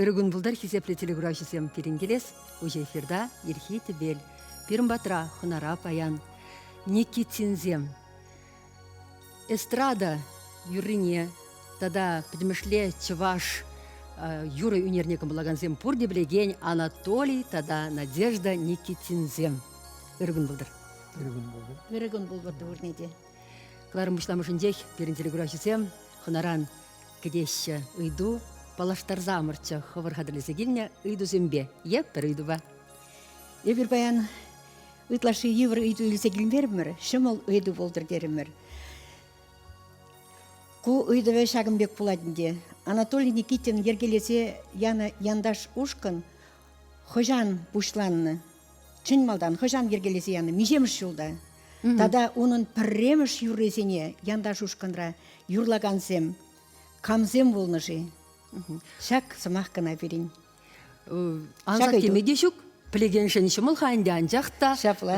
Ыркун пултӑр хисеплӗ телекуравҫӑсем пирӗн килес уҫӑ эфирта ирхи тӗпел пирӗн патра хӑнара паян Никитинсем эстрада юррине тата пӗтӗмӗшле чӑваш юрӑ ӳнерне кӑмӑллакансем пурте пӗлекен Анатолий тата Надежда Никитинсем ыркун пултӑр ыркун пултӑр ыркун пултӑр пурне те кӑларӑм пуҫламӑшӗнчех пирӗн телекуравҫӑсем хӑнаран кӗтеҫҫӗ ыйту паллаштарсамӑрччӗ хӑвӑр хатӗрлесе килнӗ ыйтусемпе е пӗр ыйтупа эпир паян ытлашши йывӑр ыйту илсе килмерӗмӗр ҫӑмӑл ыйту пултӑр терӗмӗр ку ыйтӑвӗ ҫакӑн пек пулать ӗнтӗ анатолий никитин йӗркелесе янӑ янташ ушкӑн хӑҫан пуҫланнӑ чӑн малтан хӑҫан йӗркелесе янӑ миҫемӗш ҫулта тата унӑн пӗрремӗш юррисене янташ ушкӑнра юрлакансем камсем пулнӑ-ши? Ҫак сӑмах кӑна пирӗн. Ансат теме те ҫук. Пӗлекеншӗн ҫӑмӑл-ха ӗнтӗ, анчах та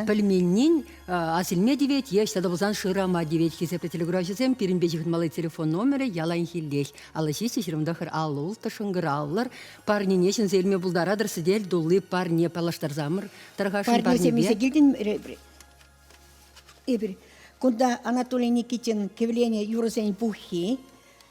пӗлменнин асилме тивет е ӑҫта та пулсан шырама тивет хисеплӗ телекуравҫӑсем. Пирӗнпе ҫыхӑнмалли телефон номерӗ яланхиллех аллӑ ҫиҫӗ ҫырӑмтӑхӑр аллӑ улттӑ шӑнкӑравлӑр. парнене ҫӗнсе илме пултаратӑр сӗтел тулли парне паллаштарсамӑр тӑрхашӑн парнепе. Парнесемесе килтӗн эпир кунта Анатолий Никитин кивлене юрӑсен пуххи,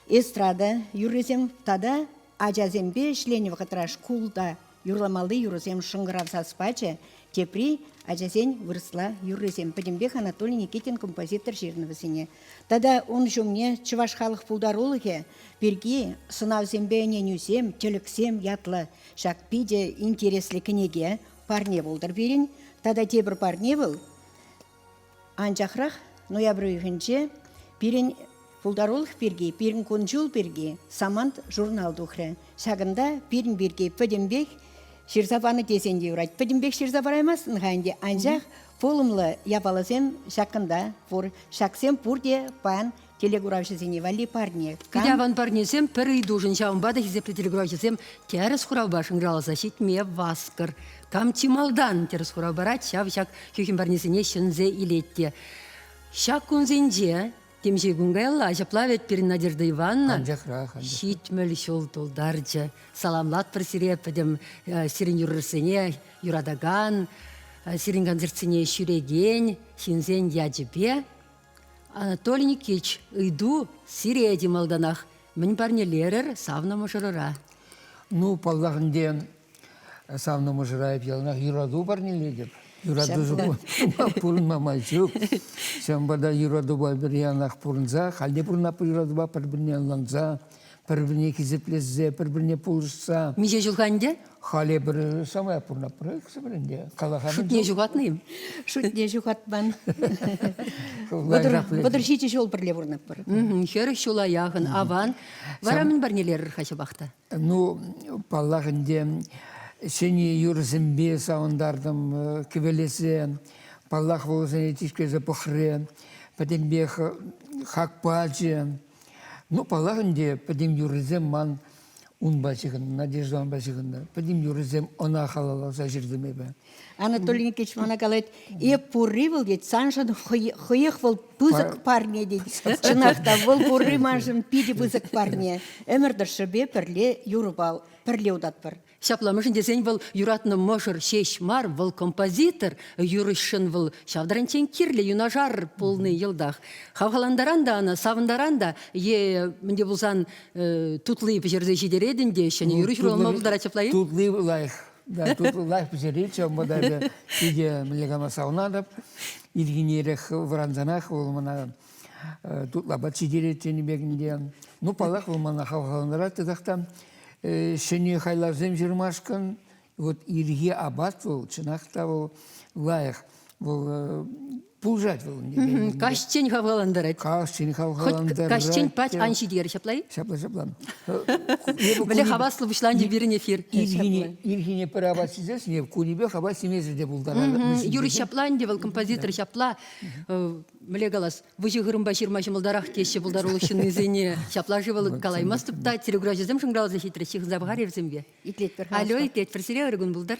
эстрада юррисем тата ачасемпе ӗҫленӗ вӑхӑтра шкулта юрламалли юрӑсем шӑнкӑрав сас пачӗ, тепри ачасен вырӑсла юррисем. Пӗтӗмпех Анатолий Никитин композитор ҫырнӑ вӗсене. Тата ун ҫумне Чӑваш халӑх пултарулӑхӗ пирки сӑнавсемпе ӗненӳсем, тӗлӗксем ятлӑ ҫак питӗ интереслӗ кӗнеке парне пултӑр пирӗн. Тата тепӗр парне вӑл анчахрах ноябрь уйӑхӗнче пирӗн пултарулӑх пирки, пирӗн кун-ҫул пирки Самант журнал тухрӗ. Ҫакӑнта пирӗн пирки пӗтӗмпех ҫырса панӑ тесен те юрать. Пӗтӗмпех ҫырса параймастӑн-ха ӗнтӗ, анчах Пулӑмлӑ япаласем ҫакӑнта пур. Ҫаксем пурте паян телекуравҫӑсене валли парне. Кам... Пӗтӗ аван парнесем пӗр ыйтушӑн, ҫавӑнпа та хисеплӗ телекуравҫӑсем тӗрӗс хуравпа шӑнкӑравласа ҫитме васкӑр. Кам чи малтан тӗрӗс хурав парать, ҫав ҫак хӳхӗм парнесене ҫӗнсе илет те. Ҫак кунсенче Темиҫе кун каялла ҫапла вӗт пирӗн Надежда Ивановна анчахрах, анчах. ҫитмӗл ҫул тултарчӗ. Саламлатпӑр сире пӗтӗм э, сирӗн юрӑрсене юратакан, э, сирӗн концертсене ҫӳрекен ҫынсен ячӗпе. Анатолий Никитич, ыйту сире те малтанах. Мӗн парнелерӗр савнӑ мӑшӑрӑра? Ну, паллах ӗнтӗ, Савнӑ мӑшӑра эп яланах юрату парнелетӗп. Юрату пурӑнма май ҫук. Ҫавӑнпа та юратупа пӗр янах пурӑнса, халь те пурӑнап юратупа пӗр-пӗрне ӑнланса, пӗр-пӗрне хисеплесе, пӗр-пӗрне пулӑшса. Миҫе ҫулха ӗнтӗ? Халӗ пӗр самай пурӑнаппӑр, сӗмӗр ӗнтӗ. Калахан. Шутне ҫухатнӑ-им? Шутне ҫухатман. Вӑтӑр ҫичӗ ҫул пӗрле пурӑнаппӑр. Хӗрӗх ҫула яхӑн аван. Вара мӗн парнелерӗр-ха ҫапах та? Ну, паллах ӗнтӗ, ҫӗнӗ юрӑсемпе савӑнтартӑм э, кӗвелесе. Паллах, вӑл вӗсене тишкерсе пӑхрӗ. Пӗтӗмпех э, хак пачӗ. Ну, паллах ӗнтӗ, пӗтӗм юррисем ман унпа ҫыхӑннӑ, Надеждӑпа ҫыхӑннӑ. Пӗтӗм юррисем ӑна халалласа ҫыртӑм эпӗ. Анатолий Никитич мана калать, эп пурри вӑл, тет, саншӑн хӑех вӑл пысӑк парне, тет. Чӑнах та, вӑл пурри маншӑн питӗ пысӑк парне. Ӗмӗр тӑршшӗпе пӗрле юрӑпа пӗрле утатпӑр. Ҫапла, мӗншӗн тесен вӑл юратнӑ мӑшӑр ҫеҫ мар, вӑл композитор, юрӑҫшӑн вӑл ҫав таранччен кирлӗ юнашар пулнӑ йӑлтах. Хавхалантаран та ӑна, савӑнтаран та е мӗнте пулсан тутлии пӗҫерсе ҫитеретӗн те ҫӗнӗ юрӑ ҫуралма пултарать ҫапла-и? Тутлии лайӑх. Да, тут лайӑх пӗҫеретчӗ унпа та эпӗ икӗ млекана саунатӑп. Ирхине эрех вӑрансанах вӑл мана тутлапа читерет тенӗ пекне. Ну, паллах, вӑл мана хавхалантарать тесах та ҫӗнӗ хайлавсем ҫырмашкӑн вот ирхи апат вӑл, чӑнах та вӑл лайӑх. Вӑл пулӑшать вӑл. Каҫчен хавхалантарать. Каҫчен хавхалантарать. Каҫчен пать ан ҫитерӗр, ҫапла-и? Ҫапла, ҫапла. Мӗнле хаваслӑ пуҫланчӗ пирӗн эфир. Ирхине пӗр апат ҫисесшӗн, эп кунӗпех апат ҫимесӗр те пултаратӑп. Юрий ҫапла ӗнтӗ вӑл, композитор ҫапла. Мӗнле калас, выҫӑ хырӑмпа ҫырма ҫӑмӑлтарах теҫҫӗ пултарулӑх ҫыннисене. Ҫапла-ши вӑл, калаймастӑп та. Телеграфҫӑсем шӑнкӑравласа ҫитрӗҫ, ҫыхӑнса пӑхар эпсемпе. Итлетпӗр. Алло, итлетпӗр. Сире ырӑ кун пултӑр.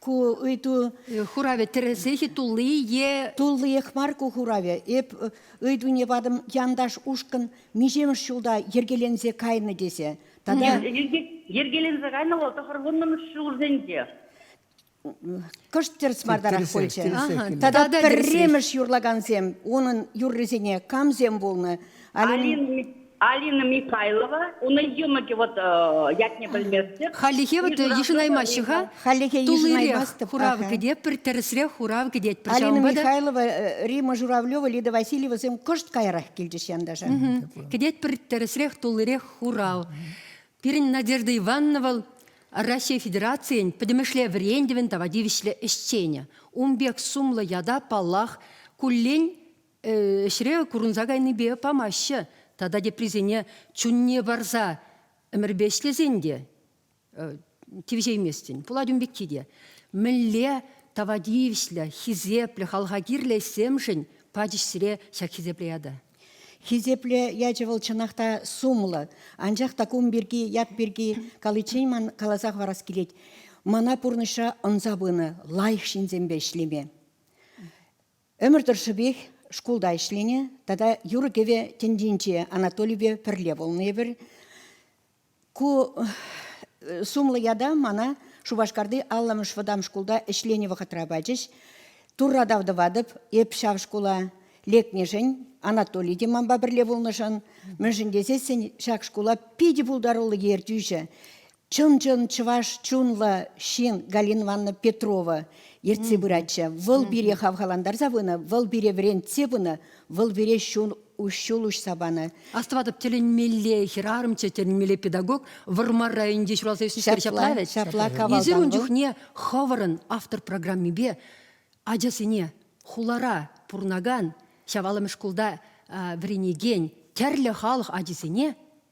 Ку ыйту хуравӗ тӗрӗсех-и тулли е туллиех мар ку хуравӗ. Эп ыйтуне патӑм янташ ушкӑн миҫемӗш ҫулта йӗркеленсе кайнӑ тесе. Тата йӗркеленсе кайнӑ вӑл тӑхӑрвуннӑмӗш ҫулсенче. Кӑшт тӗрӗс мартарах пулчӗ. Тата пӗрремӗш юрлакансем унӑн юррисене камсем пулнӑ? Алина Алина Михайлова, унӑн йӑмӑкӗ вӑт ятне пӗлместӗп. Халлӗхе вӑт йышӑнаймаҫҫӗ-ха. Халлӗхе йышӑнаймастӑп. Хурав кӗтет пӗр тӗрӗсрех хурав кӗтет пӗр ҫавӑнпа та. Алина Михайлова, Рима Журавлева, Лида Васильевасем кӑшт каярах килчӗҫ янташа. Кӗтет пӗр тӗрӗсрех туллирех хурав. Пирӗн Надежда Ивановна вӑл Раҫҫей Федерацийӗн пӗтӗмӗшле вӗрентӗвӗн тава тивӗҫлӗ ӗҫченӗ. Ун пек сумлӑ ята, паллах, куллен ӗҫре курӑнса кайнипе памаҫҫӗ. Тата теприсене чунне парса ӗмӗрпе ӗҫлесен те тивӗҫейместӗн. Пулать ун пекки те. Мӗнле тава тивӗҫлӗ, хисеплӗ, халӑха кирлӗ ӗҫсемшӗн пачӗҫ сире ҫак хисеплӗ ята? Хисеплӗ ячӗ вӑл чӑнах та сумлӑ. Анчах та кум пирки, ят пирки каличчен ман каласа хӑварас килет. Мана пурнӑҫра ӑнса пынӑ лайӑх ҫынсемпе ӗҫлеме. Ӗмӗр тӑршшӗпех шкулта ӗҫленӗ тата юрӑ-кӗвӗ тӗнчинче Анатолипе пӗрле пулнӑ эпир. Ку э, сумлӑ ята мана Шупашкарти алламӑш вӑтам шкулта ӗҫленӗ вӑхӑтра пачӗҫ. Турра тав тӑватӑп, эп ҫав шкула лекнӗшӗн, Анатолий те манпа пӗрле пулнӑшӑн, мӗншӗн тесессӗн ҫак шкула питӗ пултаруллӑ ертӳҫӗ. Чӑн-чӑн чӑваш чунлӑ ҫын Галина Ивановна Петрова ертсе пыратчӗ. Вӑл пире хавхалантарса пынӑ, вӑл пире вӗрентсе пынӑ, вӑл пире ҫул ҫул уҫса панӑ. Астӑватӑп, тӗлӗнмелле хӗрарӑмччӗ, тӗлӗнмелле педагог. Вӑрмар районӗнчи ҫуралса ӳснӗскер ҫапла ҫапла, вӗт. ҫапла кавалдан Эсир ун вӑл. чухне хӑвӑрӑн автор программипе ачасене хулара пурӑнакан, Ҫавалӑмӗш шкулта а, вӗренекен тӗрлӗ халӑх ачисене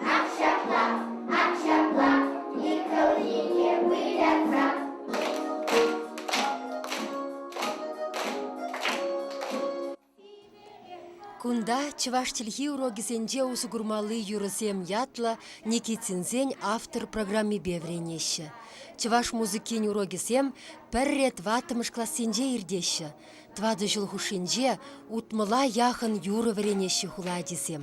Ак ҫапла, ак ҫапла, Николине вылятрак. Кунта чӑваш чӗлхи урокӗсенче усӑ курмалли юрӑсем ятлӑ Никитинсен автор программипе вӗренеҫҫӗ. Чӑваш музыкин урокӗсем пӗрре тӑваттӑмӗш классенче иртеҫҫӗ. Тӑватӑ ҫул хушшинче утмӑла яхӑн юрӑ вӗренеҫҫӗ хула ачисем.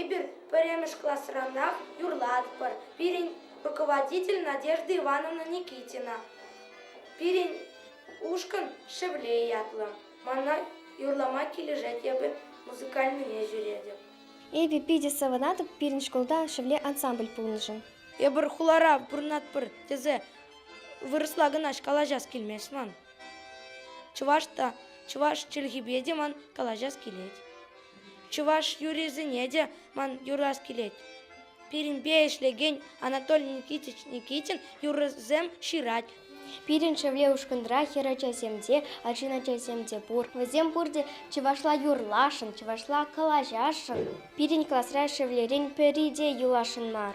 Эпир пӗрремӗш класранах юрлатпӑр. Пирӗн руководитель Надежда Ивановна Никитина. Пирӗн ушкӑн Шевле ятлӑ. Мана юрлама килӗшет, эпӗ музыкальнине ҫӳретӗп. Эпӗ питӗ савӑнатӑп пирӗн шкулта Шевле ансамбль пулнӑшӑн. Эпир хулара пурӑнатпӑр тесе вырӑсла кӑна калаҫас килмест ман. Чӑваш та, чӑваш чӗлхипе те ман калаҫас килет. Чӑваш юррисене те ман юрлас килет. Пирӗнпе ӗҫлекен Анатолий Никитич Никитин юррисем ҫырать. Пирӗн шевле ушкӑнра хӗр ачасем те, арҫын ачасем те пур. Вӗсем пурте чӑвашла юрласшӑн, чӑвашла калаҫасшӑн. Пирӗн класра шевлерен пӗри те юласшӑн мар.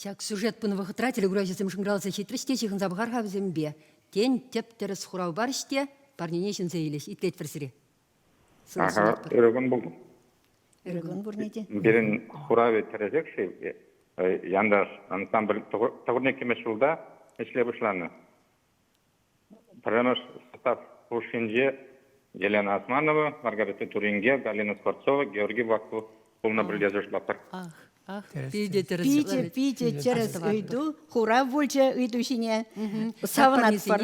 Ҫак сюжет пынӑ вӑхӑтра телеграфҫӑсем шӑнкӑравласа ҫитрӗҫ те ҫыхӑнса пӑхар-ха вӗсемпе. Тен, тӗп-тӗрӗс хурав парӗҫ те парнене ҫӗнсе илӗҫ. Итлетпӗр сире. Ырӑкун пулнӑ. Ырӑкун пурне те. Пирӗн хуравӗ тӗрӗсех-ши? Янташ ансамбль тӑхӑрне кӗмӗш ҫулта ӗҫле пуҫланӑ. Пӗрремӗш состав хушшинче Елена Османова, Маргарита Туринге, Галина Скворцова, Георгий Баку пулнӑ пӗлтерӗшлӗ. Ах, ах, питӗ тӗрӗс. Питӗ, питӗ тӗрӗс ыйту, хурав пулчӗ ыйту ҫине. Савӑнатпӑр.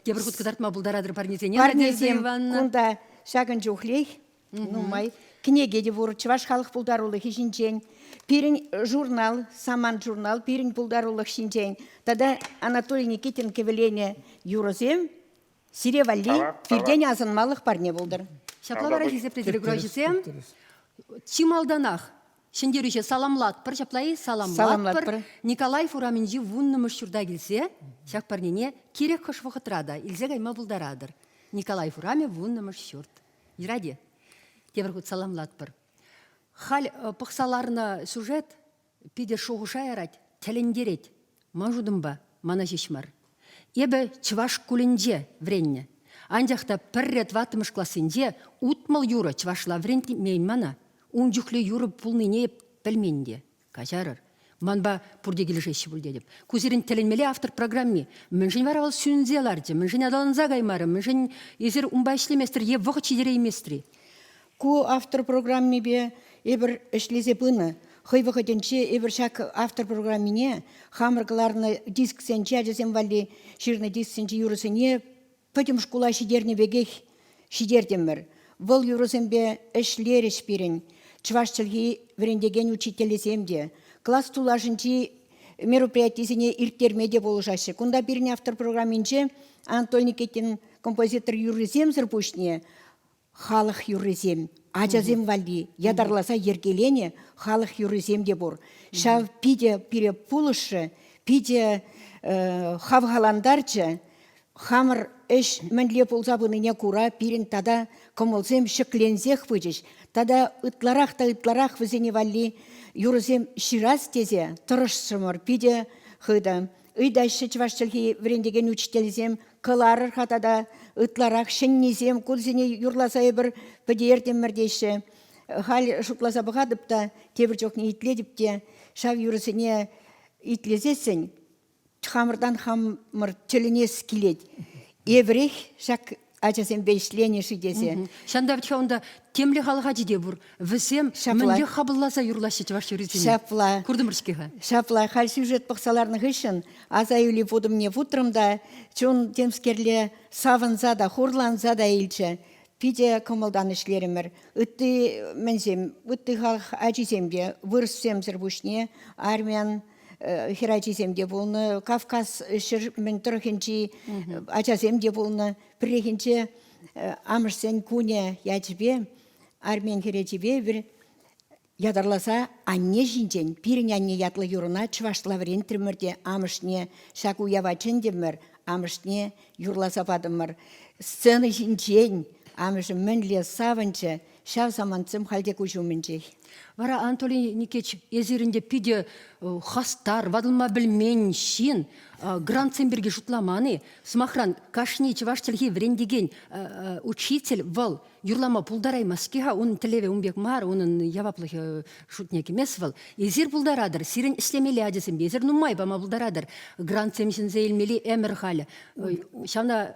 Тепӗр хут кӑтартма пултаратӑр парнесене. Парнесем кунта ҫакӑн чухлех. Нумай кӗнеке те пур чӑваш халӑх пултарулӑхӗ ҫинчен, пирӗн журнал, Самант журнал пирӗн пултарулӑх ҫинчен тата Анатолий Никитин кӗвӗленӗ юрӑсем сире валли пиртен асӑнмалӑх парне пултӑр. Ҫапла вара хисеплӗ телеграфҫӑсем чи малтанах Ҫӗнтерӳҫе саламлатпӑр, ҫапла-и? Саламлатпӑр. Николаев урамӗнчи вуннӑмӗш ҫурта килсе ҫак парнене кирек хӑш вӑхӑтра та илсе кайма пултаратӑр. Николаев урамӗ вуннӑмӗш ҫурт. Ради, тепӗр хут саламлатпӑр. Халь э, пӑхса ларнӑ сюжет питӗ шухӑша ярать, тӗлӗнтерет. Ман шутӑмпа, мана ҫеҫ мар. Эпӗ чӑваш шкулӗнче вӗреннӗ. Анчах та пӗрре тӑваттӑмӗш классенче утмӑл юрӑ чӑвашла вӗрентмен мана. Ун чухлӗ юрӑ пулнине пӗлмен те. Каҫарӑр. Манпа пурте килӗшеҫҫӗ пуль тетӗп. Ку сирӗн тӗлӗнмелле автор программи. Мӗншӗн вара вӑл сӳнсе ларчӗ? Мӗншӗн аталанса каймарӗ? Мӗншӗн эсир унпа ӗҫлеместӗр е вӑхӑт ҫитереймест-и? Ку автор программипе эпир ӗҫлесе пынӑ. Хӑй вӑхӑтӗнче эпир ҫак автор программине хамӑр кӑларнӑ дисксенче ачасем валли ҫырнӑ дисксенчи юрӑсене Пӗтӗм шкула ҫитернӗ пекех ҫитертӗмӗр. Вӑл юрӑсемпе ӗҫлерӗҫ пирӗн чӑваш чӗлхи вӗрентекен учительсем те. Класс тулашӗнчи мероприятисене ирттерме те пулӑшаҫҫӗ. Кунта пирӗн автор программинче Антон Никитин композитор юррисемсӗр пуҫне Халӑх юррисем, ачасем валли ятарласа йӗркеленӗ халӑх юррисем те пур. Ҫав питӗ пире пулӑшрӗ, питӗ э, хавхалантарчӗ. Хамӑр ӗҫ мӗнле пулса пынине кура пирӗн тата кӑмӑлсем ҫӗкленсех пычӗҫ. Тата ытларах та ытларах вӗсене валли юрӑсем ҫырас тесе тӑрӑшрӑмӑр питӗ хытӑ. Ыйтаҫҫӗ чӑваш чӗлхи вӗрентекен учительсем, кӑларӑр-ха тата ытларах ҫӗннисем, курсене юрласа эпир пӗтертӗмӗр теҫҫӗ. Халь шутласа пӑхатӑп та, тепӗр чухне итлетӗп те, ҫав юрӑсене итлесессӗн хамӑртан хамӑр тӗлӗнес килет. Эпӗрех ҫак ачасемпе ӗҫленӗ-ши тесе. Ҫантавча унта темле халӑх ачи те пур. Вӗсем мӗнле хапӑлласа юрлаҫҫӗ чӑваш юррисене? Ҫапла. Куртӑмӑр-ҫке-ха. Ҫапла. Халь сюжет пӑхса ларнӑ хыҫҫӑн аса илӳ путӑмне путрӑм та чун темскерле савӑнса та, хурланса та илчӗ. Питӗ кӑмӑлтан ӗҫлерӗмӗр. Ытти мӗнсем, ытти халӑх ачисемпе, вырӑссемсӗр пуҫне армян хӗр ачисем те пулнӑ, Кавказ ҫӗр мӗн тӑрӑхӗнчи ачасем те пулнӑ. Пӗррехинче амӑшсен кунӗ ячӗпе армян хӗрачипе бир ятарласа анне ҫинчен пирӗн анне ятлӑ юрӑна чӑвашла вӗрентрӗмӗр те амӑшне ҫак уява чӗнтӗмӗр, амӑшне юрласа патӑмӑр. Сцена ҫинчен амӑшӗ мӗнле савӑнчӗ, Ҫав самантсем халь те куҫ умӗнчех. Вара Анатолий Никитич, эсир ӗнтӗ питӗ хастар, ватӑлма пӗлмен ҫын, грантсем пирки шутламан-и? Сӑмахран, кашни чӑваш чӗлхи вӗрентекен учитель вӑл юрлама пултараймасть-ки-ха, унӑн тӗллевӗ ун пек мар, унӑн яваплӑхӗ шутне кӗмест вӑл. Эсир пултаратӑр, сирӗн ӗҫлемелли ачасемпе эсир нумай пама пултаратӑр. Грантсем ҫӗнсе илмелли ӗмӗр халӗ. Ҫавна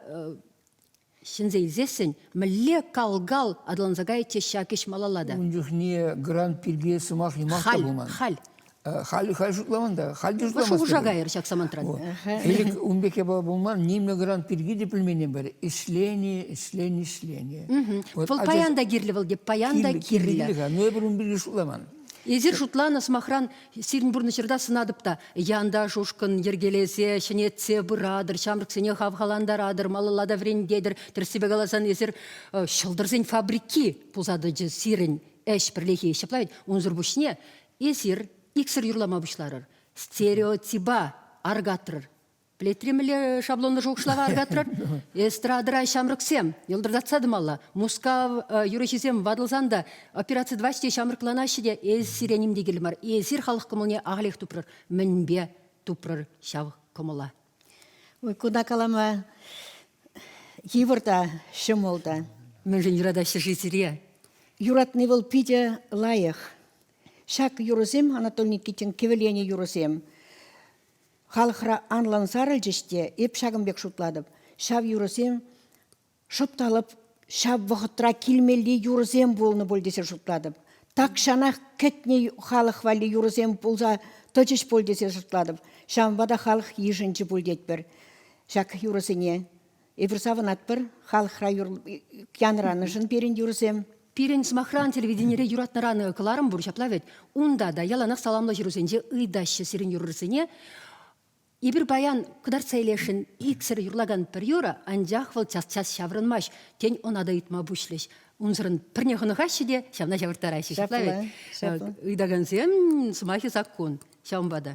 ҫӗнсе илсессӗн мӗнле кал-кал аталанса каять те ҫак ӗҫ малалла та. Ун чухне грант пирки сӑмах юмах та пулман. Халь. Халь халь шутламан та. Халь те шутламас. Шухӑша кайӑр ҫак самантра. Элӗк ун пек япала пулман. Нимле грант пирки те пӗлменен пӗр. Ӗҫлени, ӗҫлени, ӗҫлени. Вӑл паян та кирлӗ вӑл те паян та кирлӗ. Ну эпир ун пирки шутламан. Эсир шутланӑ сӑмахран Сирӗн пурнӑҫӑрта сӑнатӑп та янташ-ушкӑн йӗркелесе, ҫӗнетсе пыратӑр, ҫамрӑксене хавхалантаратӑр, малалла та вӗрентетӗр. Тӗрӗссипе каласан, эсир ҫӑлтӑрсен фабрики пулса тӑчӗ сирӗн ӗҫ пӗрлехи. Ҫапла вӗт, унсӑр пуҫне эсир иксӗр юрлама пуҫларӑр, стереотипа аркатрӑр. Плетри мӗнле шаблонлӑ шухӑшлава аркатрӑр? Эстрадӑра ҫамрӑксем йӑлтӑртатса тӑмалла. Мускав э, юрӑҫисем ватӑлсан та операци тӑваҫҫӗ те ҫамрӑкланаҫҫӗ те эс сире ним те кирлӗ мар. Эсир халӑх кӑмӑлне ахалех тупрӑр. Мӗнпе тупрӑр ҫав кӑмӑла? Ой, куна калама йывӑр та, ҫӑмӑл та. Мӗншӗн юратаҫҫӗ-ши сире? Юратни вӑл питӗ лайӑх. Ҫак юрӑсем Анатолий Никитин кӗвӗленӗ юрӑсем. Халӑхра анлӑн сарӑлчӗҫ те, эп ҫакӑн пек шутлатӑп, ҫав юрӑсем шӑп та лӑп ҫав вӑхӑтра килмелли юрӑсем пулнӑ пуль тесе шутлатӑп. Тахҫанах кӗтнӗ халӑх валли юрӑсем пулса тӑчӗҫ пуль тесе шутлатӑп. Ҫавӑнпа та халӑх йышӑнчӗ пуль тетпӗр ҫак юрӑсене. Эпир савӑнатпӑр халӑхра юр янӑранӑшӑн пирӗн юрсем. Пирӗн сӑмахран телевиденире юратнӑран кӑларӑм пур ҫапла вӗт. Унта та яланах саламлӑ ҫырусенче ыйтаҫҫӗ сирӗн юрӑрисене. Эпир паян кӑтартса илесшӗн иксӗр юрлакан пӗр юрӑ, анчах вӑл час-час ҫаврӑнмасть. Тен, ӑна та ыйтма пуҫлӗҫ. Унсӑрӑн пӗрне хӑнӑхаҫҫӗ те ҫавна ҫавӑрттараҫҫӗ. Ҫапла вӗт. Ҫапла. Ыйтакансем сӑмахӗ саккун. Ҫавӑнпа та.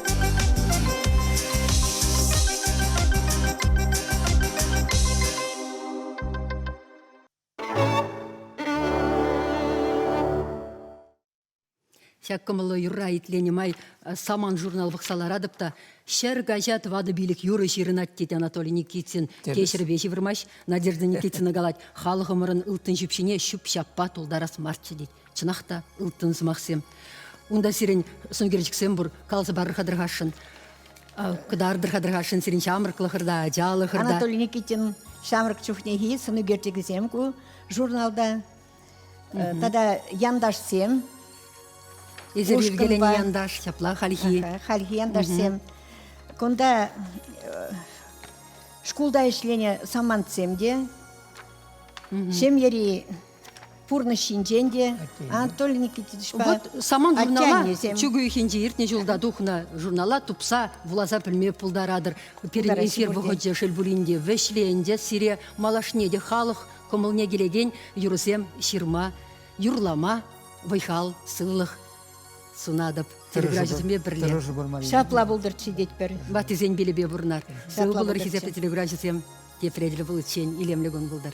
Ҫак кӑмӑллӑ юрра итленӗ май э, саман журнал пӑхса ларатӑп та ҫӗр каҫа тӑватӑ пилӗк юрӑ ҫырӑнать тет Анатолий Никитин кеҫӗрпе ҫывӑрмасть. Надежда Никитина калать, халӑхӑмӑрӑн ылтӑн ҫӳпҫине ҫӳп-ҫаппа тултарас марччӗ тет. Чӑнах та ылтӑн сӑмахсем. Унта сирӗн сӑнкерчӗксем пур, каласа парӑр-ха тӑрхасшӑн. Кӑтартӑр-ха тӑрхасшӑн сирӗн ҫамрӑклӑхӑрта, ачалӑхӑрта. Анатолий Никитин ҫамрӑк чухнехи сӑнӳкерчӗкӗсем ку журналта тата янташсем. Эсир йӗркеленӗ янташ, ҫапла хальхи. Хальхи янташсем. Кунта шкулта ӗҫленӗ самантсем те, ҫемьери пурнӑҫ ҫинчен те Анатолий Никитичпа вот саман журнала чӳк уйӑхӗнче иртнӗ ҫулта тухнӑ журнала тупса вуласа пӗлме пултаратӑр пирӗн эфир вӑхӑчӗ шел пулин те вӗҫле ӗнтӗ сире малашне те халӑх кӑмӑлне килекен юрӑсем ҫырма юрлама вӑй-хал сывлӑх сунатӑп телеграфҫӑсемпе пӗрле ҫапла пултӑрччӗ тетпӗр ваттисен пилӗпе пурӑнар сывӑ пулӑр хисеплӗ телеграфҫӑсем Тепредре пуличчен илемлӗ кун пултӑр.